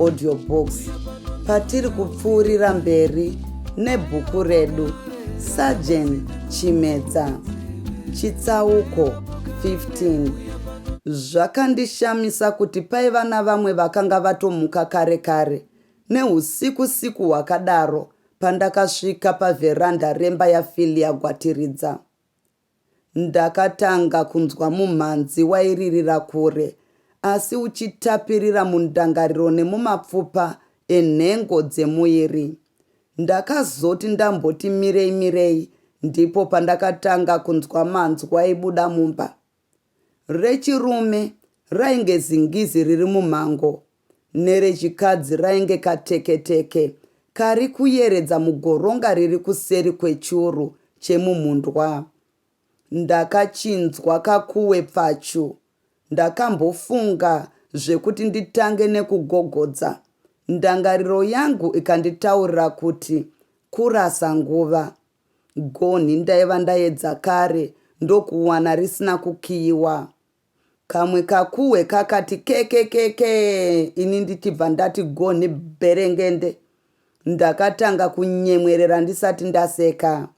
audio box patiri kupfuurira mberi nebhuku redu sajen chimedza chitsauko 15 zvakandishamisa kuti paiva navamwe vakanga vatomuka kare kare neusiku siku hwakadaro pandakasvika pavheranda remba yafilia gwatiridza Ndakatanga kunzwa mumhanzi wairirira kure asi uchitapirira mundangariro nemumapfupa enhengo dzemuiri. Ndakazoti ndamboti mirei mirei ndipo pandakatanga kunzwa manzwi aibuda mumba. Rechirume rainge zingizi riri mumhango nerechikadzi rainge kateketeke kari kuyeredza mugoronga riri kuseri kwechuru chemumhundwa. Ndakachinzwa kakuwe pfachu. Ndakambofunga zvekuti nditange nekugogodza, ndangariro yangu ikanditaurira kuti kurasa nguva. Gonhi ndaiva ndaedza kare ndokuwana risina kukiyiwa. Kamwe kakuhwe kakati kekekekee ini ndichibva ndati gonhi bherengende. Ndakatanga kunyemwerera ndisati ndaseka.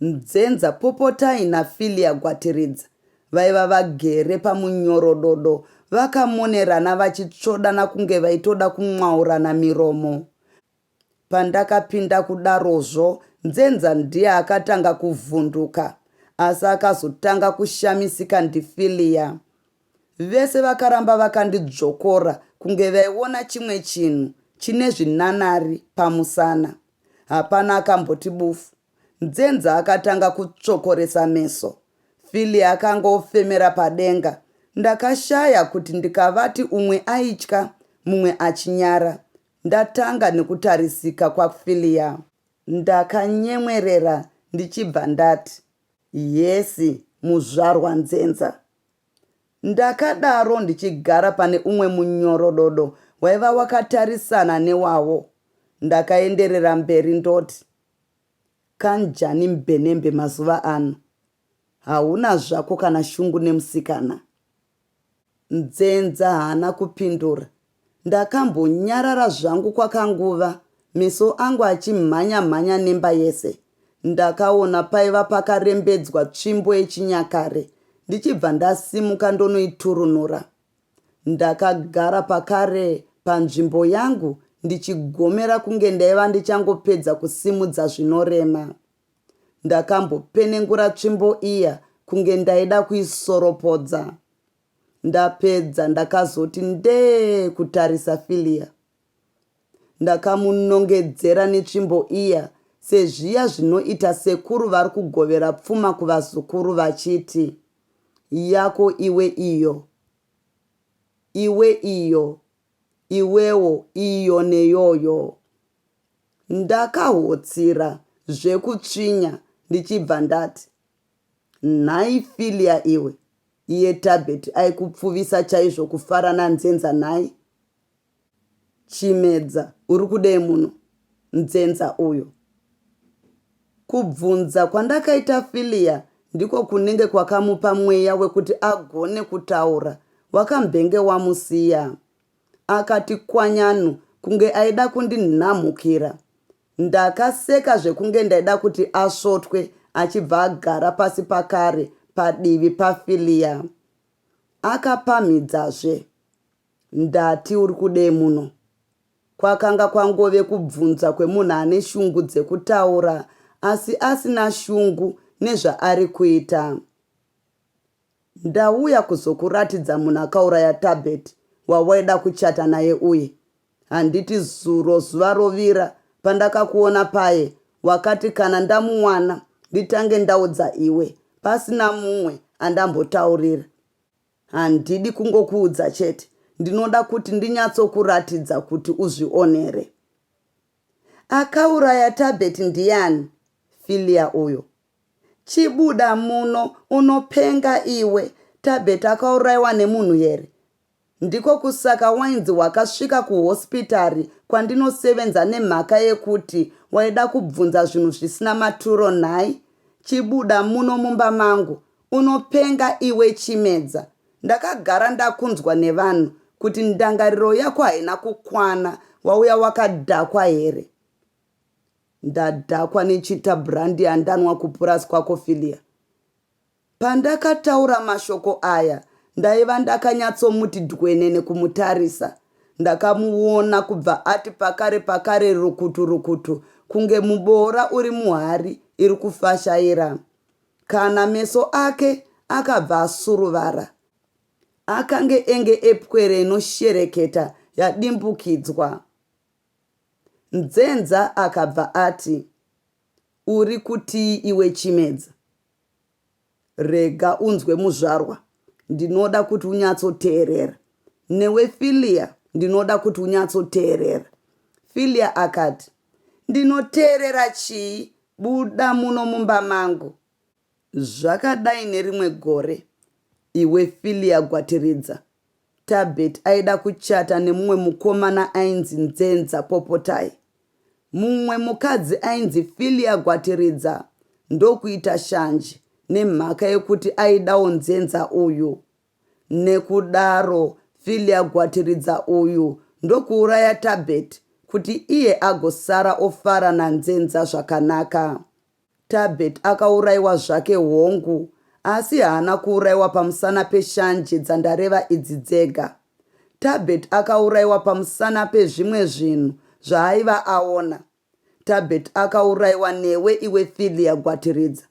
Nzenza Popotai naFilia Gwatiridza vaiva vagere pamunyorododo vakamonerana vachitsvodana kunge vaitoda kumwaurana miromo. Pandakapinda kudarozvo Nzenza ndiye akatanga kuvhunduka asi akazotanga kushamisika ndiFillia. Vese vakaramba vakandidzvokora kunge vaiona chimwe chinhu chine zvinanari pamusana. Hapana akamboti bufu. Nzenza akatanga kutsvokoresa meso. Fillia akanga ofemera padenga. Ndakashaya kuti ndikavati umwe aitya mumwe achinyara Ndatanga nekutarisika kwaFillia ndakanyemwerera ndichibva ndati, Yes muzvarwa Nzenza. Ndakadaro ndichigara pane umwe munyorododo waiva wakatarisana newavo ndakaenderera mberi ndoti, Kanjani mbenembe mazuva ano? Hauna zvako kana shungu nemusikana. Nzenza haana kupindura. Ndakambonyarara zvangu kwakanguva meso angu achimhanya mhanya nemba yese. Ndakaona paiva pakarembedzwa tsvimbo yechinyakare ndichibva ndasimuka ndonoiturunura. Ndakagara pakare panzvimbo yangu ndichigomera kunge ndaiva ndichangopedza kusimudza zvinorema. Ndakambopenengura tsvimbo iya kunge ndaida kuisoropodza. Ndapedza ndakazoti ndee kutarisa Philia. Ndakamunongedzera netsvimbo iya sezviya zvinoita sekuru vari kugovera pfuma kuvazukuru vachiti, Yako iwe iyo. Iwe iyo. iwewo iyo neyoyo. Ndakahotsira zvekutsvinya ndichibva ndati, Nhai Filia iwe, iye Tabet aikupfuvisa chaizvo kufara naNzenza nhai? Chimedza, uri kudei muno? Nzenza uyo. Kubvunza kwandakaita Fillia ndiko kunenge kwakamupa mweya wekuti agone kutaura wakambenge wamusiya. Akati kwanyanu kunge aida kundinhamhukira. Ndakaseka zvekunge ndaida kuti asvotwe achibva agara pasi pakare padivi paFillia. Akapamhidzazve. Ndati uri kudei muno? Kwakanga kwangove kubvunza kwemunhu ane shungu dzekutaura asi asina shungu nezvaari kuita. Ndauya kuzokuratidza munhu akauraya Thabet wawaida kuchata naye uye. Handiti zuro zuva rovira pandakakuona paye wakati kana ndamuwana nditange ndaudza iwe pasina mumwe andambotaurira. Handidi kungokuudza chete, ndinoda kuti ndinyatsokuratidza kuti uzvionere. Akauraya Tabet ndiyani? Filia uyo. Chibuda muno, unopenga iwe. Tabet akauraiwa nemunhu here? Ndiko kusaka wainzi wakasvika kuhosipitari kwandinosevenza nemhaka yekuti waida kubvunza zvinhu zvisina maturo nhai? Chibuda muno mumba mangu, Unopenga iwe Chimedza ndakagara ndakunzwa nevanhu kuti ndangariro yako haina kukwana wauya wakadhakwa here? Ndadhakwa neChita brandi yandanwa kupurazi kwako Filia. Pandakataura mashoko aya ndaiva ndakanyatsomuti dhwenene kumutarisa. Ndakamuona kubva ati pakare pakare rukutu rukutu kunge muboora uri muhari iri kufashaira. Kana meso ake akabva asuruvara. Akange enge epwere inoshereketa yadimbukidzwa. Nzenza akabva ati, Uri kutii iwe Chimedza? Rega unzwe muzvarwa, ndinoda kuti unyatsoteerera. Newe Filia ndinoda kuti unyatsoteerera. Filia akati, Ndinoteerera chii? Buda muno mumba mangu! Zvakadai nerimwe gore, iwe Filia Gwatiridza, Tabet aida kuchata nemumwe mukomana ainzi Nzenza Popotai. Mumwe mukadzi ainzi Filia Gwatiridza ndokuita shanje nemhaka yekuti aidawo Nzenza uyu. Nekudaro Filia Gwatiridza uyu ndokuuraya Tabet kuti iye agosara ofara naNzenza zvakanaka. Tabet akauraiwa zvake hongu asi haana kuuraiwa pamusana peshanje dzandareva idzi dzega. Tabet akauraiwa pamusana pezvimwe zvinhu zvaaiva aona. Tabet akauraiwa newe iwe Philia Gwatiridza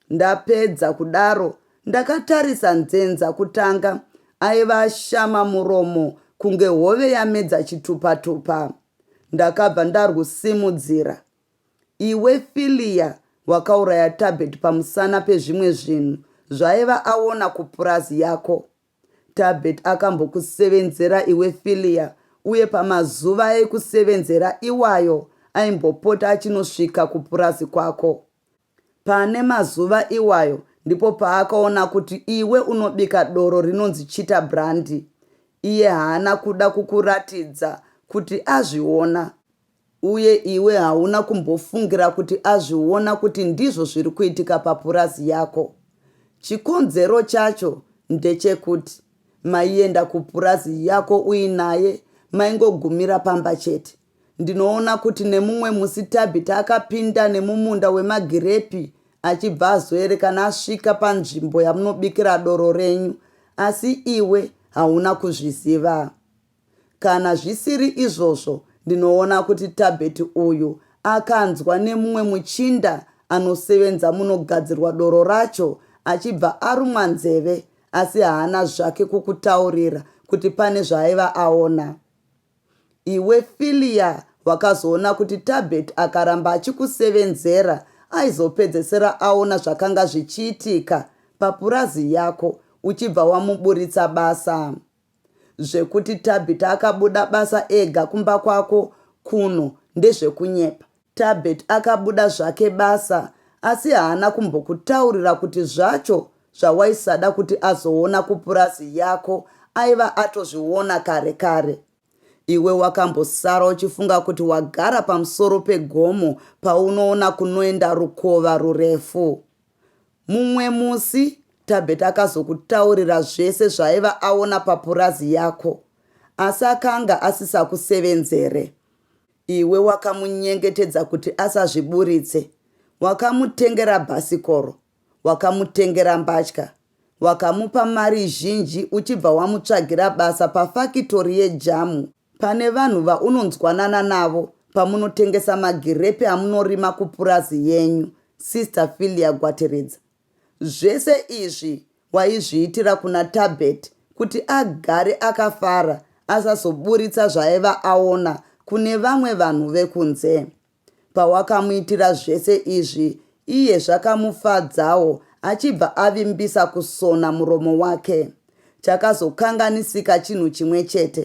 Ndapedza kudaro ndakatarisa Nzenza kutanga aiva ashama muromo kunge hove yamedza chitupa tupa ndakabva ndarwusimudzira Iwe Philia wakauraya Tabet pamusana pezvimwe zvinhu zvaaiva aona kupurazi yako Tabet akambokusevenzera iwe Philia uye pamazuva ekusevenzera iwayo aimbopota achinosvika kupurazi kwako. Pane mazuva iwayo ndipo paakaona kuti iwe unobika doro rinonzi Chita Brandy. Iye haana kuda kukuratidza kuti azviona. Uye iwe hauna kumbofungira kuti azviona kuti ndizvo zviri kuitika papurazi yako. Chikonzero chacho ndechekuti maienda kupurazi yako uinaye maingogumira pamba chete. Ndinoona kuti nemumwe musi Tabitha akapinda nemumunda wemagirepi achibva azoerekana asvika panzvimbo yamunobikira doro renyu asi iwe hauna kuzviziva. Kana zvisiri izvozvo, ndinoona kuti Tabet uyu akanzwa nemumwe muchinda anosevenza munogadzirwa doro racho achibva arumwa nzeve asi haana zvake kukutaurira kuti pane zvaaiva aona. Iwe Fillia wakazoona kuti Tabet akaramba achikusevenzera aizopedzesera aona zvakanga zvichiitika papurazi yako uchibva wamuburitsa basa. Zvekuti Tabitha akabuda basa ega kumba kwako kuno ndezvekunyepa. Tabet akabuda zvake basa asi haana kumbokutaurira kuti zvacho zvawaisada kuti azoona kupurazi yako aiva atozviona kare kare. Iwe wakambosara uchifunga kuti wagara pamusoro pegomo paunoona kunoenda rukova rurefu. Mumwe musi Thabet akazokutaurira zvese zvaaiva aona papurazi yako asi akanga asisakusevenzere. Iwe wakamunyengetedza kuti asazviburitse, wakamutengera bhasikoro, wakamutengera mbatya, wakamupa mari zhinji uchibva wamutsvagira basa pafakitori yejamu Pane vanhu vaunonzwanana navo pamunotengesa magirepi amunorima kupurazi yenyu, Sister Fillia Gwateredza. Zvese izvi waizviitira kuna Thabet kuti agare akafara asazoburitsa zvaaiva aona kune vamwe vanhu vekunze. Pawakamuitira zvese izvi, iye zvakamufadzawo achibva avimbisa kusona muromo wake. Chakazokanganisika chinhu chimwe chete.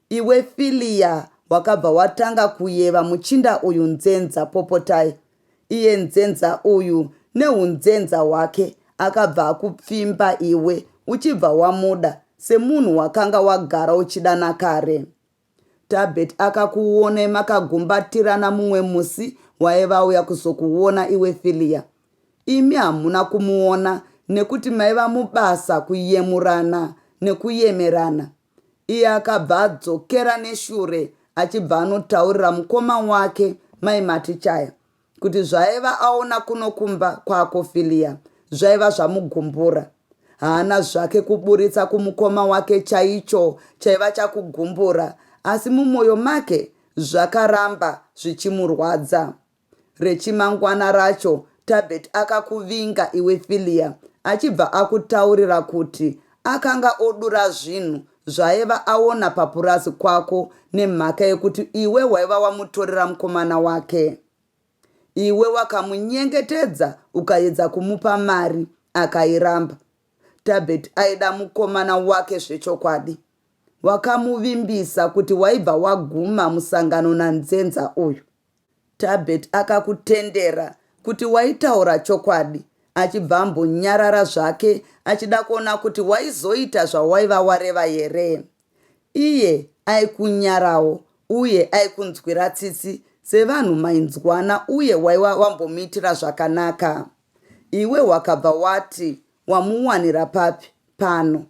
Iwe Filia wakabva watanga kuyeva muchinda uyu nzenza Popotai. Iye nzenza uyu nehunzenza hwake akabva akupfimba iwe uchibva wamuda semunhu wakanga wagara uchida nakare. Thabet akakuonai makagumbatirana mumwe musi waiva auya kuzokuona iwe Fillia. Imi hamuna kumuona nekuti maiva mubasa kuyemurana nekuyemerana. Iye akabva adzokera neshure achibva anotaurira mukoma wake mai Matichaya. kuti zvaaiva aona kuno kumba kwaAkofilia zvaiva zvamugumbura. Haana zvake kuburitsa kumukoma wake chaicho chaiva chakugumbura asi mumwoyo make zvakaramba zvichimurwadza. Rechimangwana racho Tabet akakuvinga iwe Filia achibva akutaurira kuti akanga odura zvinhu zvaaiva aona papurazi kwako nemhaka yekuti iwe waiva wamutorera mukomana wake. Iwe wakamunyengetedza ukaedza kumupa mari akairamba. Tabet aida mukomana wake zvechokwadi. Wakamuvimbisa kuti waibva waguma musangano nanzenza uyu. Thabet akakutendera kuti waitaura chokwadi achibva ambonyarara zvake achida kuona kuti waizoita zvawaiva wareva here. Iye aikunyarawo uye aikunzwira tsitsi sevanhu mainzwana uye waiva wambomuitira zvakanaka. Iwe wakabva wati wamuwanira papi pano?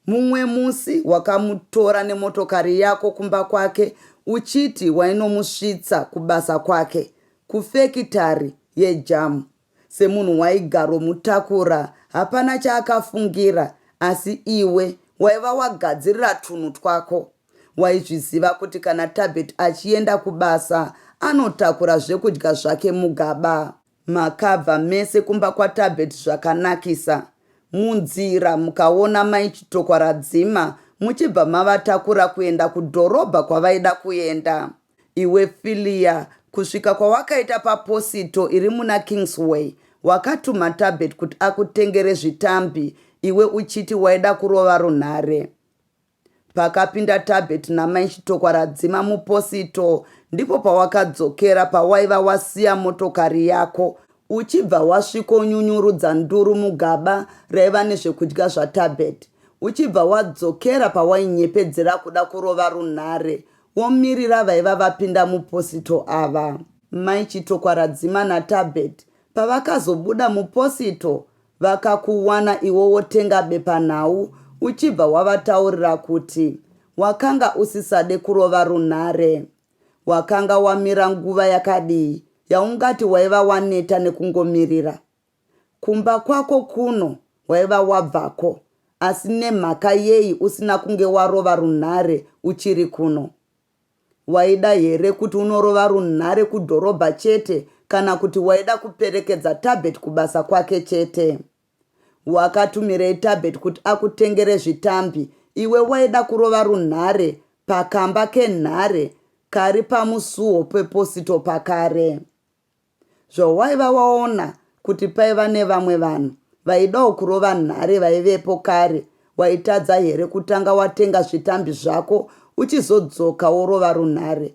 Mumwe musi wakamutora nemotokari yako kumba kwake uchiti wainomusvitsa kubasa kwake, kufekitari yejamu. Semunhu waigaromutakura hapana chaakafungira asi iwe waiva wagadzirira twunhu twako. Waizviziva kuti kana Tabet achienda kubasa anotakura zvekudya zvake mugaba. Makabva mese kumba kwaTabet zvakanakisa. Munzira mukaona mai Chitokwa Radzima muchibva mavatakura kuenda kudhorobha kwavaida kuenda. Iwe Fillia kusvika kwawakaita paposito iri muna Kingsway wakatuma Tabet kuti akutengere zvitambi iwe uchiti waida kurova runhare. Pakapinda Tabet namai Chitokwa radzima muposito ndipo pawakadzokera pawaiva wasiya motokari yako uchibva wasviko nyunyurudza nduru mugaba raiva nezvekudya zvaTabet uchibva wadzokera pawainyepedzera kuda kurova runhare womirira vaiva vapinda muposito ava. Mai Chitokwa radzima naTabet pavakazobuda muposito Vakakuwana iwe wotenga bepanhau uchibva wavataurira kuti wakanga usisade kurova runhare. Wakanga wamira nguva yakadii yaungati waiva waneta nekungomirira? Kumba kwako kuno waiva wabvako asi nemhaka yei usina kunge warova runhare uchiri kuno? Waida here kuti unorova runhare kudhorobha chete kana kuti waida kuperekedza Thabet kubasa kwake chete? Wakatumirei Thabet kuti akutengere zvitambi iwe waida kurova runhare pakamba kenhare kari pamusuo peposito pakare? Zvawaiva waona kuti paiva nevamwe vanhu vaidawo kurova nhare vaivepo kare waitadza here kutanga watenga zvitambi zvako uchizodzoka worova runhare?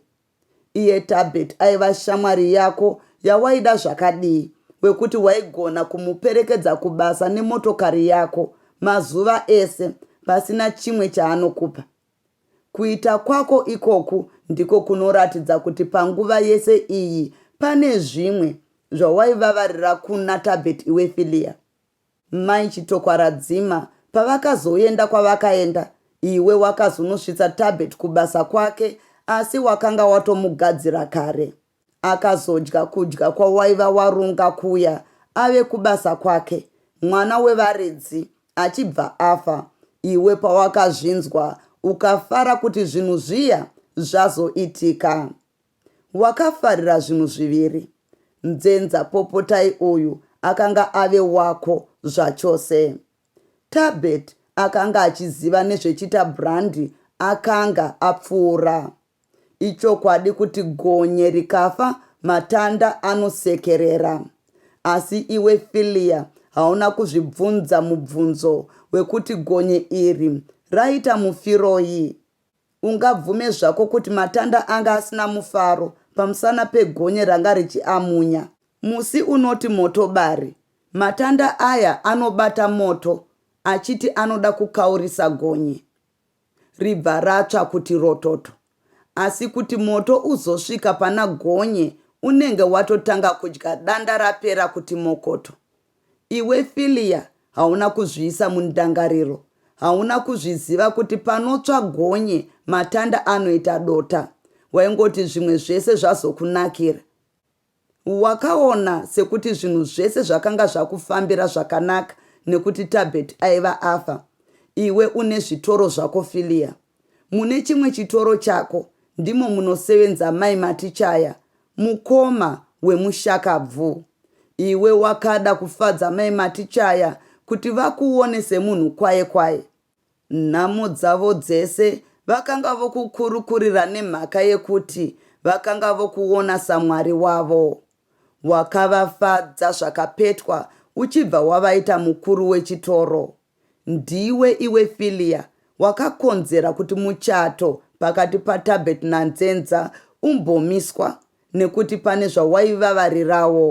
Iye Tabet aiva shamwari yako yawaida zvakadii wekuti waigona kumuperekedza kubasa nemotokari yako mazuva ese pasina chimwe chaanokupa? Kuita kwako ikoku ndiko kunoratidza kuti panguva yese iyi pane zvimwe zvawaivavarira kuna Tabet iwe Filia. Mai Chitokwaradzima pavakazoenda kwavakaenda iwe wakazonosvitsa Tabet kubasa kwake asi wakanga watomugadzira kare. akazodya kudya kwawaiva warunga kuya ave kubasa kwake mwana wevaridzi achibva afa iwe pawakazvinzwa ukafara kuti zvinhu zviya zvazoitika wakafarira zvinhu zviviri nzenza popotai uyu akanga ave wako zvachose tabet akanga achiziva nezvechita brandi akanga apfuura Ichokwadi kuti gonye rikafa matanda anosekerera. Asi iwe Fillia hauna kuzvibvunza mubvunzo wekuti gonye iri raita mufiroi? Ungabvume zvako kuti matanda anga asina mufaro pamusana pegonye ranga richiamunya. Musi unoti motobari, matanda aya anobata moto achiti anoda kukaurisa gonye. ribva ratsva kuti rototo. Asi kuti moto uzosvika pana Gonye unenge watotanga kudya danda rapera kuti mokoto. Iwe Fillia hauna kuzviisa mundangariro, hauna kuzviziva kuti panotsva gonye matanda anoita dota. Waingoti zvimwe zvese zvazokunakira. Wakaona sekuti zvinhu zvese zvakanga zvakufambira zvakanaka nekuti Tabet aiva afa. Iwe une zvitoro zvako Filia. Mune chimwe chitoro chako ndimo munosevenza mai Matichaya, mukoma wemushakabvu. Iwe wakada kufadza mai Matichaya kuti vakuone semunhu kwaye kwaye. Nhamo dzavo dzese vakanga vokukurukurira nemhaka yekuti vakanga vokuona saMwari wavo. Wakavafadza zvakapetwa uchibva wavaita mukuru wechitoro. Ndiwe iwe Filia wakakonzera kuti muchato pakati paTabet naNzenza umbomiswa nekuti pane zvawaivavarirawo.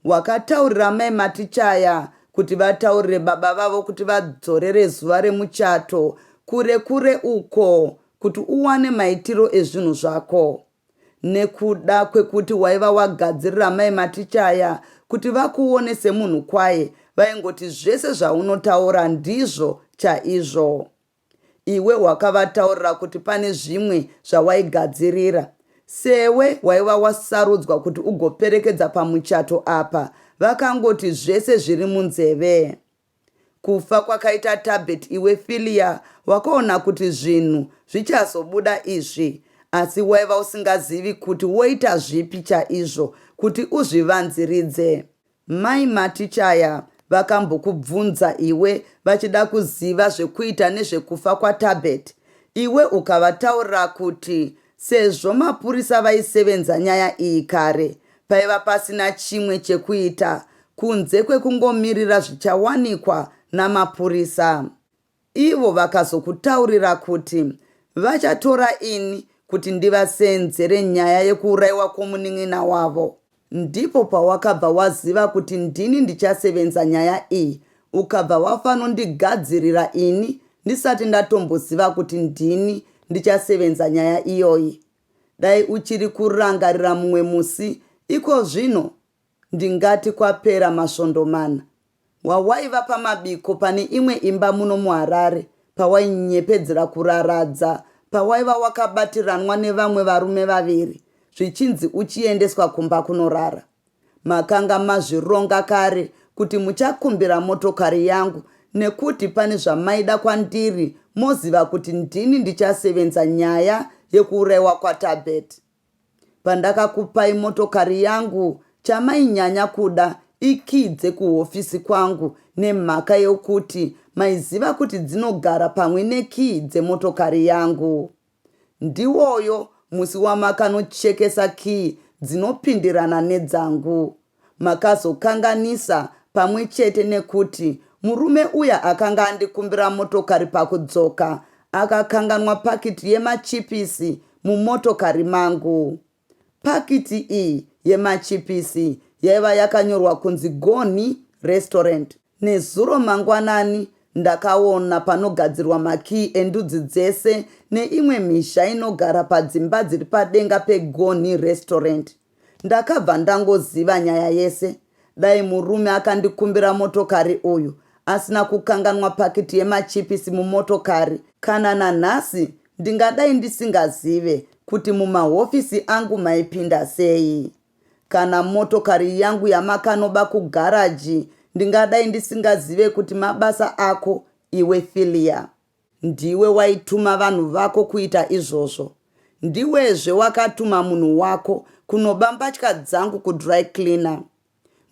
Wakataurira amai Matichaya kuti vataurire baba vavo kuti vadzorere zuva remuchato kure kure uko kuti uwane maitiro ezvinhu zvako. Nekuda kwekuti waiva wagadzirira amai Matichaya kuti vakuone semunhu kwaye vaingoti zvese zvaunotaura ndizvo chaizvo. Iwe wakavataurira kuti pane zvimwe zvawaigadzirira. Sewe waiva wasarudzwa kuti ugoperekedza pamuchato apa vakangoti zvese zviri munzeve. Kufa kwakaita Tabet iwe Fillia wakaona kuti zvinhu zvichazobuda izvi asi waiva usingazivi kuti woita zvipi chaizvo kuti uzvivanziridze. Mai Matichaya vakambokubvunza iwe vachida kuziva zvekuita nezvekufa kwaTabet iwe ukavataurira kuti sezvo mapurisa vaisevenza nyaya iyi kare paiva pasina chimwe chekuita kunze kwekungomirira zvichawanikwa namapurisa. Ivo vakazokutaurira kuti vachatora ini kuti ndivaseenzere nyaya yekuuraiwa kwomunin'ina wavo. Ndipo pawakabva waziva kuti ndini ndichasevenza nyaya iyi ukabva wafanondigadzirira ini ndisati ndatomboziva kuti ndini ndichasevenza nyaya iyoyi. Dai uchiri kurangarira mumwe musi ikozvino Ndingati kwapera masvondo mana wawaiva pamabiko pane imwe imba muno muHarare pawainyepedzera kuraradza pawaiva wakabatiranwa nevamwe varume vaviri zvichinzi uchiendeswa kumba kunorara. Makanga mazvironga kare kuti muchakumbira motokari yangu nekuti pane zvamaida kwandiri moziva kuti ndini ndichasevenza nyaya yekuuraiwa kwaTabet. Pandakakupai motokari yangu chamainyanya kuda ikii dzekuhofisi kwangu nemhaka yokuti maiziva kuti dzinogara pamwe nekii dzemotokari yangu. Ndiwoyo musi wamakanochekesa kii dzinopindirana nedzangu, makazokanganisa pamwe chete nekuti murume uya akanga andikumbira motokari pakudzoka akakanganwa pakiti yemachipisi mumotokari mangu. Pakiti iyi yemachipisi yaiva yakanyorwa kunzi Gonhi Restaurant. Nezuro mangwanani ndakaona panogadzirwa makiyi endudzi dzese neimwe mhizha inogara padzimba dziri padenga peGonhi Restaurant. Ndakabva ndangoziva nyaya yese. Dai murume akandikumbira motokari uyu asina kukanganwa pakiti yemachipisi mumotokari, kana nanhasi ndingadai ndisingazive kuti mumahofisi angu maipinda sei. Kana motokari yangu yamakanoba kugaraji ndingadai ndisingazive kuti mabasa ako iwe Fillia. Ndiwe waituma vanhu vako kuita izvozvo. Ndiwezve wakatuma munhu wako kunoba mbatya dzangu kudry cleaner.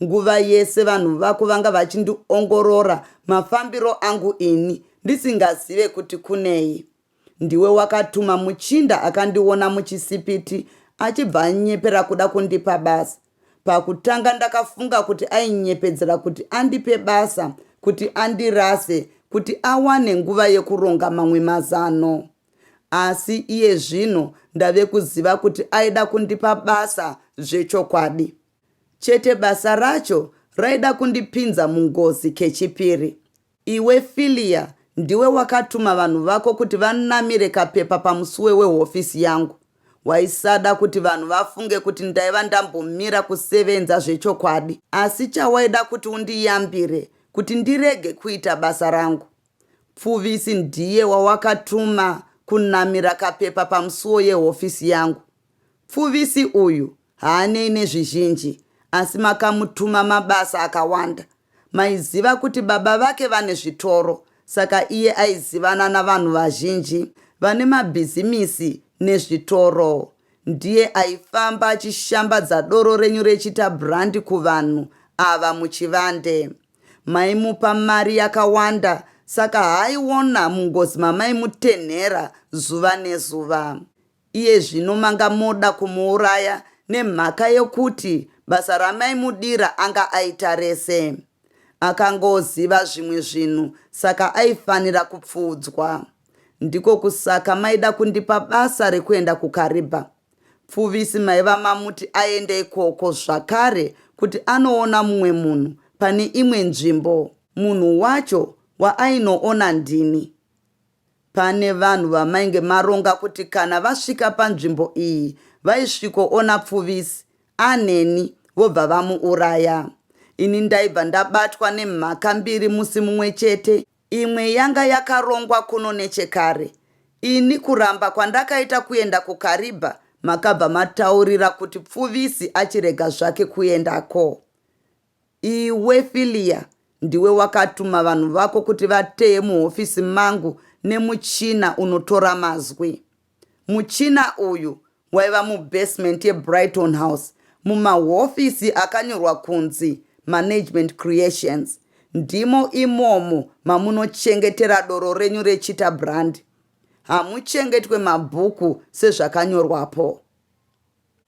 Nguva yese vanhu vako vanga vachindiongorora mafambiro angu ini ndisingazive kuti kunei. Ndiwe wakatuma muchinda akandiona muchisipiti achibva anyepera kuda kundipa basa. Pakutanga ndakafunga kuti ainyepedzera kuti andipe basa kuti andirase kuti awane nguva yekuronga mamwe mazano. Asi iye zvino ndave kuziva kuti aida kundipa basa zvechokwadi. Chete basa racho raida kundipinza mungozi kechipiri. Iwe Fillia ndiwe wakatuma vanhu vako kuti vanamire kapepa pamusuwe wehofisi yangu. Waisada kuti vanhu vafunge kuti ndaiva ndambomira kusevenza zvechokwadi. Asi chawaida kuti undiyambire kuti ndirege kuita basa rangu. Pfuvisi ndiye wawakatuma kunamira kapepa pamusuwo yehofisi yangu. Pfuvisi uyu haanei nezvizhinji asi makamutuma mabasa akawanda. Maiziva kuti baba vake vane zvitoro saka iye aizivana navanhu vazhinji vane mabhizimisi nezvitoro. Ndiye aifamba achishambadza doro renyu rechiita brand kuvanhu ava muchivande. Maimupa mari yakawanda saka haaiona mungozi mamaimutenhera zuva nezuva. Iye zvino manga moda kumuuraya nemhaka yokuti basa ramaimudira anga aita rese. Akangoziva zvimwe zvinhu saka aifanira kupfuudzwa. Ndiko kusaka maida kundipa basa rekuenda kuKariba? Pfuvisi maiva mamuti aende ikoko zvakare kuti anoona mumwe munhu pane imwe nzvimbo. Munhu wacho waainoona ndini. Pane vanhu vamainge maronga kuti kana vasvika panzvimbo iyi vaisvikoona Pfuvisi aneni vobva vamuuraya. Ini ndaibva ndabatwa nemhaka mbiri musi mumwe chete. Imwe yanga yakarongwa kuno nechekare. Ini kuramba kwandakaita kuenda kuKariba makabva mataurira kuti Pfuvisi achirega zvake kuendako. Iwe Filia ndiwe wakatuma vanhu vako kuti vateye muhofisi mangu nemuchina unotora mazwi. Muchina uyu waiva mubasement yeBrighton House mumahofisi akanyorwa kunzi Management Creations. Ndimo imomo mamunochengetera doro renyu reChita Brand. Hamuchengetwe mabhuku sezvakanyorwapo.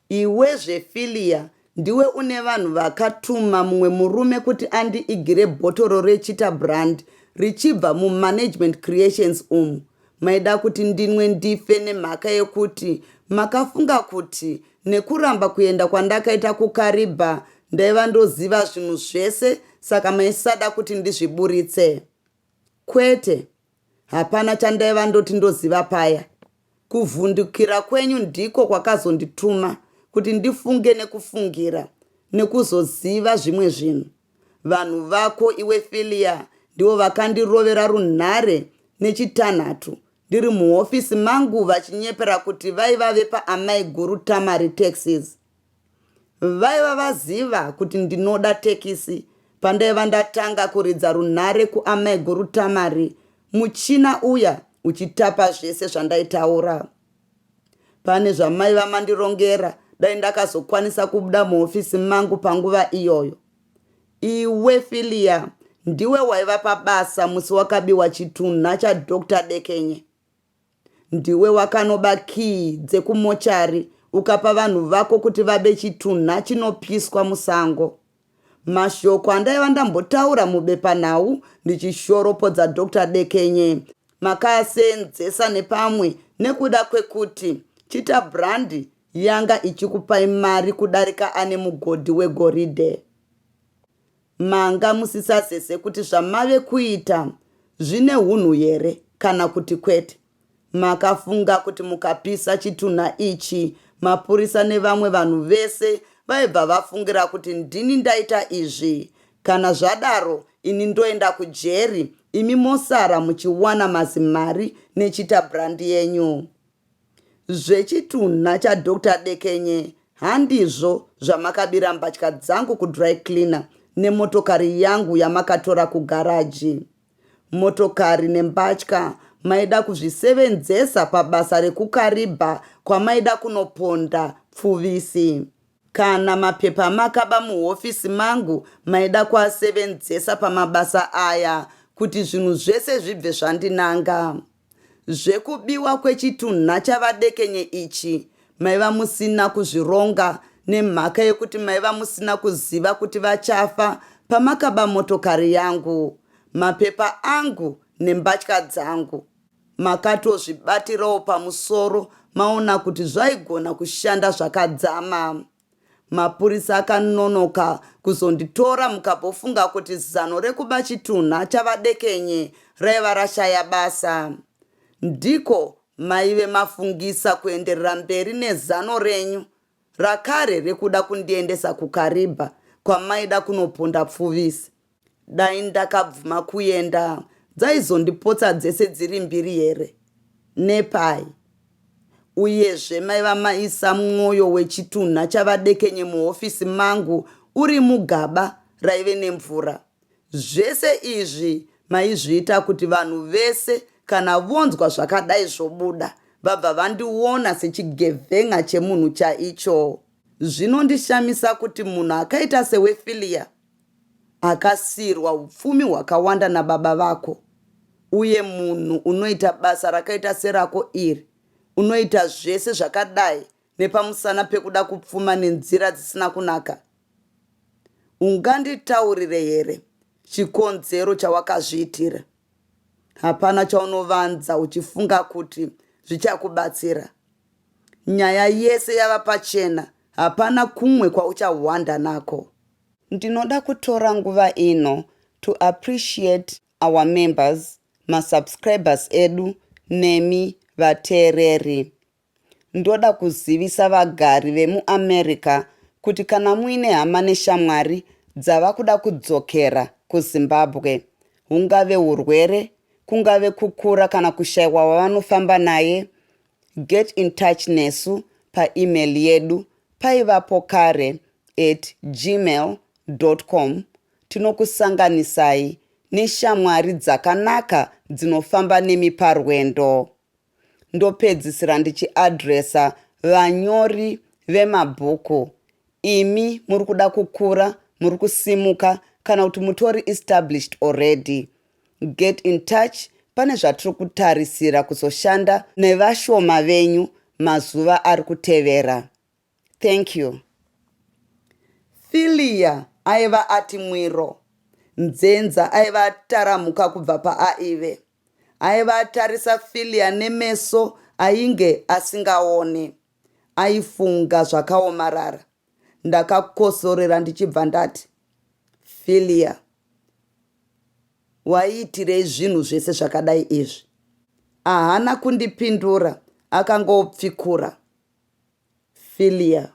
Iwe zve Fillia ndiwe une vanhu vakatuma mumwe murume kuti andi igire bhotoro re chita brand richibva mu management creations umu maida kuti ndinwe ndife nemhaka yekuti makafunga kuti nekuramba kuenda kwandakaita ku Kariba ndaiva ndoziva zvinhu zvese saka maisada kuti ndizviburitse kwete Hapana chandaiva ndoti ndoziva paya. Kuvhundukira kwenyu ndiko kwakazondituma kuti ndifunge nekufungira nekuzoziva zvimwe zvinhu. Vanhu vako iwe Filia ndivo vakandirovera runhare nechitanhatu ndiri muhofisi mangu vachinyepera kuti vaiva vepaamaiguru Tamari Taxis. Vaiva vaziva kuti ndinoda tekisi pandaiva ndatanga kuridza runhare kuamaiguru Tamari muchina uya uchitapa zvese zvandaitaura. Pane zvamaiva mandirongera dai ndakazokwanisa kubuda muhofisi mangu panguva iyoyo. Iwe Filia ndiwe waiva pabasa musi wakabiwa chitunha chaDr Dekenye. Ndiwe wakanoba key dzekumochari ukapa vanhu vako kuti vabe chitunha chinopyiswa musango. Mashoko andaiva ndambotaura mubepanhau ndichishoropodza Doctor Dekenye makaaseenzesa nepamwe nekuda kwekuti Chita Brand yanga ichikupai mari kudarika ane mugodhi wegoridhe. Manga musisazeze kuti zvamave kuita zvine hunhu here kana kuti kwete. Makafunga kuti mukapisa chitunha ichi mapurisa nevamwe vanhu vese vaibva vafungira kuti ndini ndaita izvi. Kana zvadaro ini ndoenda kujeri imi mosara muchiwana mazimari nechita brand yenyu. Zvechitunha chaDoctor Dekenye handizvo zvamakabira mbatya dzangu kudry cleaner nemotokari yangu yamakatora kugaraji. Motokari nembatya maida kuzvisevenzesa pabasa rekuKariba kwamaida kunoponda pfuvisi. Kana mapepa amakaba muhofisi mangu maida kuasevenzesa pamabasa aya kuti zvinhu zvese zvibve zvandinanga. Zvekubiwa kwechitunha chavadekenye ichi maiva musina kuzvironga nemhaka yekuti maiva musina kuziva kuti vachafa pamakaba motokari yangu, mapepa angu nembatya dzangu. Makatozvibatirawo pamusoro maona kuti zvaigona kushanda zvakadzama. Mapurisa akanonoka kuzonditora mukabofunga kuti zano rekuba chitunha chavadekenye raiva rashaya basa. Ndiko maive mafungisa kuenderera mberi nezano renyu rakare rekuda kundiendesa kuKariba kwamaida kunoponda pfuvisi. Dai ndakabvuma kuenda dzaizondipotsa dzese dziri mbiri here? Nepai? Uyezve maiva maisa mwoyo wechitunha chavadekenye muhofisi mangu uri mugaba raive nemvura. Zvese izvi maizviita kuti vanhu vese kana vonzwa zvakadai zvobuda vabva vandiona sechigevhenga chemunhu chaicho. Zvinondishamisa kuti munhu akaita seWefilia Akasiirwa hupfumi hwakawanda nababa vako, uye munhu unoita basa rakaita serako iri unoita zvese zvakadai nepamusana pekuda kupfuma nenzira dzisina kunaka? Unganditaurire here chikonzero chawakazviitira? Hapana chaunovanza uchifunga kuti zvichakubatsira. Nyaya yese yava pachena, hapana kumwe kwauchahwanda nako. Ndinoda kutora nguva ino to appreciate our members, ma subscribers edu nemi vateereri. Ndoda kuzivisa vagari vemu America kuti kana muine hama neshamwari dzava kuda kudzokera kuZimbabwe, hungave hurwere, kungave kukura kana kushaiwa wavanofamba naye, Get in touch nesu pa email yedu paivapo kare at gmail dot com tinokusanganisai neshamwari dzakanaka dzinofamba nemi parwendo. Ndopedzisira ndichiadresa vanyori vemabhuku imi muri kuda kukura muri kusimuka kana kuti mutori established already Get in touch pane zvatiri kutarisira kuzoshanda nevashoma venyu mazuva ari kutevera. Thank you. Philia aiva ati mwiro. Nzenza aiva ataramuka kubva paaive. Aiva atarisa Philia nemeso ainge asingaone. Aifunga zvakaomarara. Ndakakosorera ndichibva ndati, Philia. Waiitirei zvinhu zvese zvakadai izvi? Ahana kundipindura akangopfikura Philia.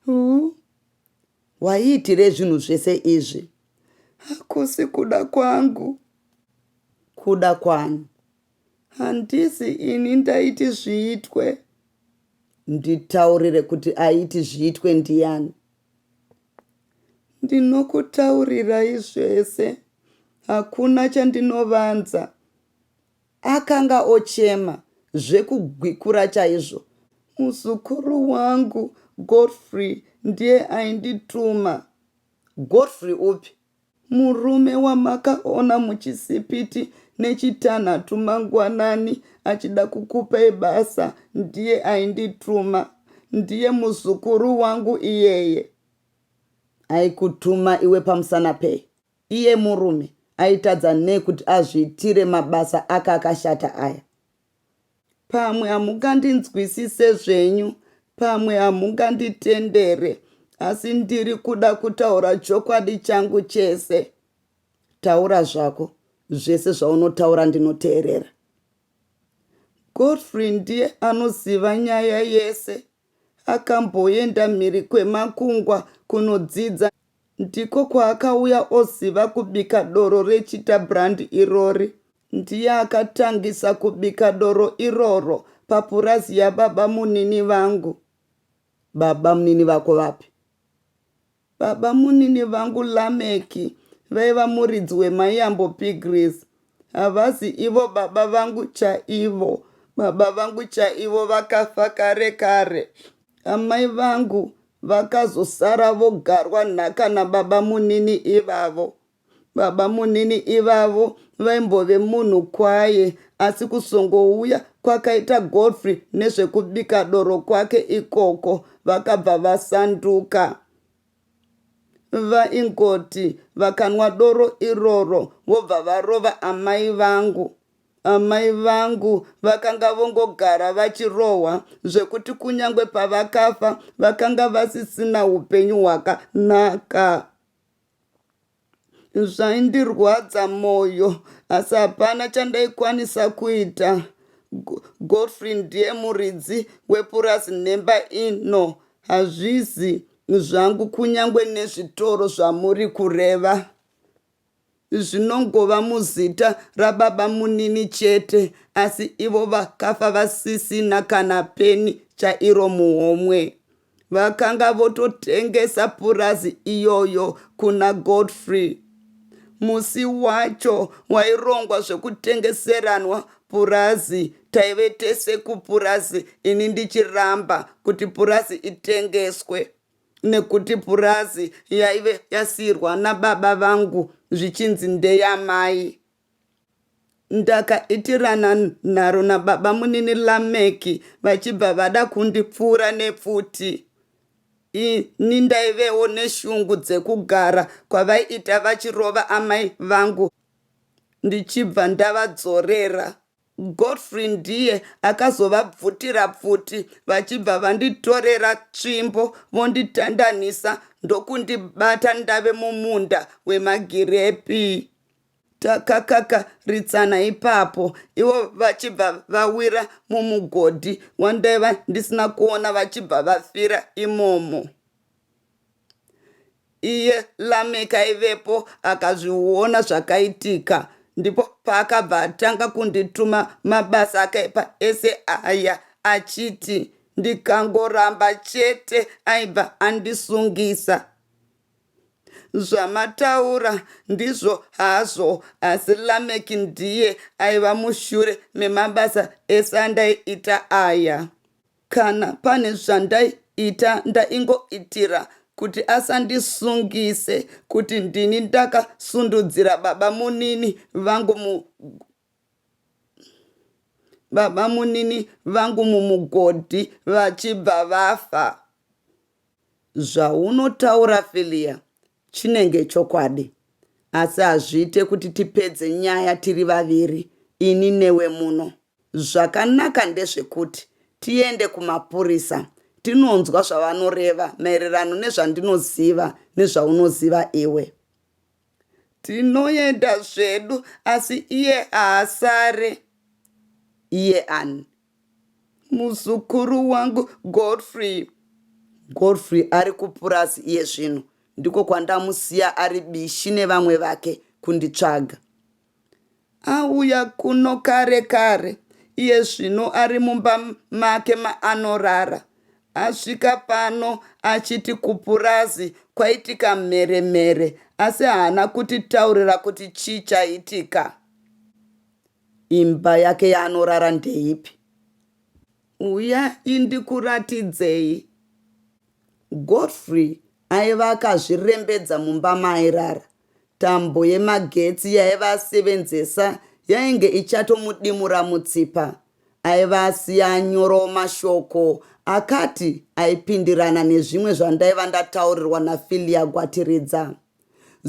Huh? Waiitirei zvinhu zvese izvi? Hakusi kuda kwangu. Kuda kwani? Handisi ini ndaiti zviitwe. Nditaurire kuti aiti zviitwe ndiyani? Ndinokutaurirai zvese, hakuna chandinovanza. Akanga ochema zvekugwikura chaizvo. Muzukuru wangu Godfrey ndiye aindituma. Godfrey upi? Murume wamakaona muchisipiti nechitanhatu mangwanani achida kukupai basa ndiye aindituma. Ndiye muzukuru wangu iyeye. Aikutuma iwe pamusana pei? Iye murume aitadza nei kuti azviitire mabasa ake akashata aya? pamwe hamungandinzwisise zvenyu pamwe hamunganditendere asi ndiri kuda kutaura chokwadi changu chese taura zvako zvese zvaunotaura ndinoteerera godfrey ndiye anoziva nyaya yese Akamboenda mhiri kwemakungwa kunodzidza ndiko kwaakauya oziva kubika doro reChita Brand irori. Ndiye akatangisa kubika doro iroro papurazi yababamunini vangu. Babamunini vako vapi? Babamunini vangu Lameck vaiva muridzi wemaiyambo Pigrees. Havazi ivo baba vangu chaivo. Baba vangu chaivo vakafa kare kare. Amai vangu vakazosara vogarwa nhaka nababamunini ivavo. Babamunini ivavo vaimbove munhu kwaye asi kuzongouya kwakaita Godfrey nezvekubika doro kwake ikoko vakabva vasanduka. Vaingoti vakanwa doro iroro vobva varova amai vangu. Amai vangu vakanga vongogara vachirohwa zvekuti kunyange pavakafa vakanga vasisina upenyu hwakanaka. zvaindirwadza moyo asi hapana chandaikwanisa kuita godfrey ndiye muridzi wepurazi nhemba ino hazvizi zvangu kunyange nezvitoro zvamuri kureva zvinongova muzita rababa munini chete asi ivo vakafa vasisina kana peni chairo muhomwe vakanga vototengesa purazi iyoyo kuna godfrey musi wacho wairongwa zvekutengeseranwa purazi taive tese kupurazi ini ndichiramba kuti purazi itengeswe nekuti purazi yaive yasiirwa nababa vangu zvichinzi ndeyamai Ndakaitirana nharo nababamunini Lameki vachibva vada kundipfuura nepfuti. Ini ndaivewo neshungu dzekugara kwavaiita vachirova amai vangu ndichibva ndavadzorera. Godfrey ndiye akazovabvutira pfuti vachibva vanditorera tsvimbo vonditandanisa ndokundibata ndave mumunda wemagirepi. takakaritsana ipapo ivo vachibva vawira mumugodhi wandaiva ndisina kuona vachibva vafira imomo iye lameki aivepo akazviona zvakaitika ndipo paakabva atanga kundituma mabasa akaipa ese aya achiti ndikangoramba chete aibva andisungisa Zvamataura ndizvo hazvo asi Lameck ndiye aiva mushure memabasa ese andaiita aya. Kana pane zvandaiita ndaingoitira kuti asandisungise kuti ndini ndakasundudzira babamunini vangu mu babamunini vangu mumugodhi vachibva vafa. Zvaunotaura Fillia chinenge chokwadi asi hazviite kuti tipedze nyaya tiri vaviri ini newe muno. Zvakanaka ndezvekuti tiende kumapurisa tinonzwa zvavanoreva maererano nezvandinoziva nezvaunoziva iwe. Tinoenda zvedu asi iye haasare. Iye ani? muzukuru wangu godfrey godfrey ari kupurazi iye zvino ndiko kwandamusiya ari bishi nevamwe vake kunditsvaga auya kuno kare kare iye zvino ari mumba make maanorara asvika pano achiti kupurazi kwaitika mheremhere asi haana kutitaurira kuti chii chaitika Imba yake yaanorara ndeipi? Uyai ndikuratidzei. Godfrey aiva akazvirembedza mumba maairara. Tambo yemagetsi yaiva asevenzesa yainge ichatomudimura mutsipa. Aiva asiya anyorawo mashoko akati aipindirana nezvimwe zvandaiva ndataurirwa naFilia Gwatiridza.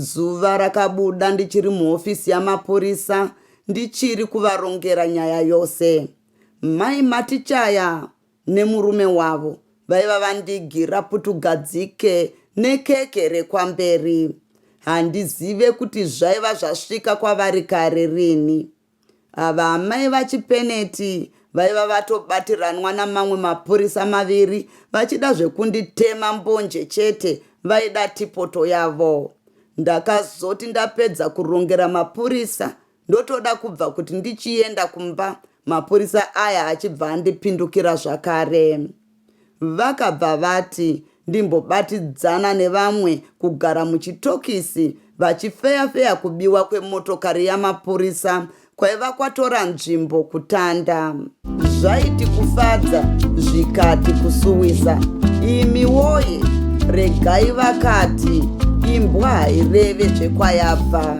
Zuva rakabuda ndichiri muhofisi yamapurisa ndichiri kuvarongera nyaya yose. Mai Matichaya nemurume wavo vaiva vandigira putugadzike nekeke rekwamberi. Handizive kuti zvaiva zvasvika kwavari kare rini. Ava amai vaChipeneti vaiva vatobatiranwa namamwe mapurisa maviri vachida zvekunditema mbonje chete vaida tipoto yavo. Ndakazoti ndapedza kurongera mapurisa ndotoda kubva kuti ndichienda kumba mapurisa aya achibva andipindukira zvakare. Vakabva vati ndimbobatidzana nevamwe kugara muchitokisi vachifeya-feya kubiwa kwemotokari yamapurisa kwaiva kwatora nzvimbo kutanda. Zvaiti kufadza zvikati kusuwisa. Imi woye, regai vakati imbwa haireve zvekwayabva.